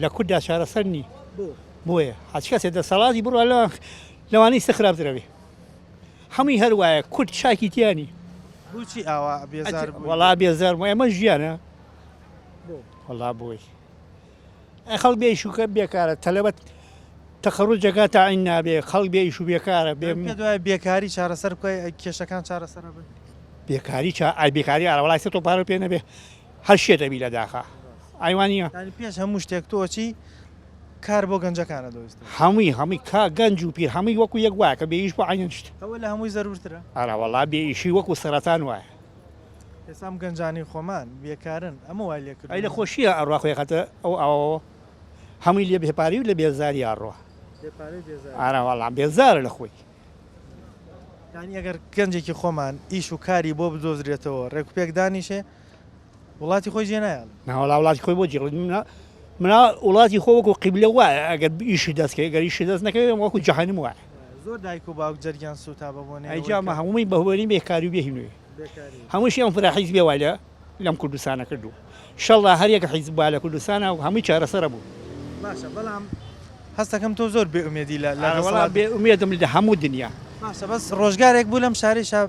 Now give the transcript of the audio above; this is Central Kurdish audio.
لە کورددا چارەسەر نی بۆیە هەچ کەسێ دەسەڵاتی بڕوا لە لەوانەی سە خراپترەوێ هەمووی هەروایە کورد چاکی تیانی بچی ئاوا وڵا بێزار ئێمە ژیانە وڵا بۆی خەڵ بێ شوکە بێکارە تەلەبەت تەخڕوو جەگا تاعین نابێ خەڵ بێ ئیش و بێکارە بێ دوای بێکاری چارەسەر بکەی کێشەکان چارەسەر بن بێکاری چا ئای بێکاری ئاراوەڵای سە تۆ پارە پێ نەبێ هەر شێ دەبی لە داخە ئایوانیە. یانی پێش هەموو شتێک تۆ چی کار بۆ گەنجەکانە دۆیست؟ هەمووی هەمووی کا گەنج و پیر هەمووی وەکو یەک وایە کە بێئیش بۆ عەینەن شت. ئەوە لە هەمووی زەرورترە. ئەرا وەڵا بێ ئیشی وەکو سەرەتان وایە. ئێسام گەنجانی خۆمان بێکارن ئەمە وای لێ کردووە. ئەی لە خۆشیە ئەڕا خۆی ئەخاتە ئەو ئاوەوە هەمووی لە بێ پارەی و لە بێزاری ئەڕوا. بێ پارەی و بێزاری. ئەرا وەڵا بێزارە لە خۆی. یانی ئەگەر گەنجێکی خۆمان ئیش و کاری بۆ بدۆزرێتەوە ڕێک و پێک دانیشێ، وڵاتی خۆی جێ نایڵێ ناوەڵا وڵاتی خۆی بۆ جێڵێت منە منا وڵاتی خۆ وەکو قیبلە وایە ئەگەر ئیشی دەستکەی گەریشی دەست نەکەوێت وەکو جەهانم وایە زۆر دایک و باوک جەرگیان سوتا بە بۆنێ ئەیجامە هەمووی بەهوەری بێکاری و بێهینوێ هەمووشی ئەم فرا حیز بێوالە لەم کوردستانە کردو شەڵدا هەریەکە حیز با لە کوردستانە و هەمووی چارەسەرە بوو باشە بەڵام هەستەکەم تۆ زۆر بێ ئومێدی لە لە وڵات بێ ئومێدم لە هەموو دنیا باشە بەس ڕۆژگارێک بوو لەم شارێ شاب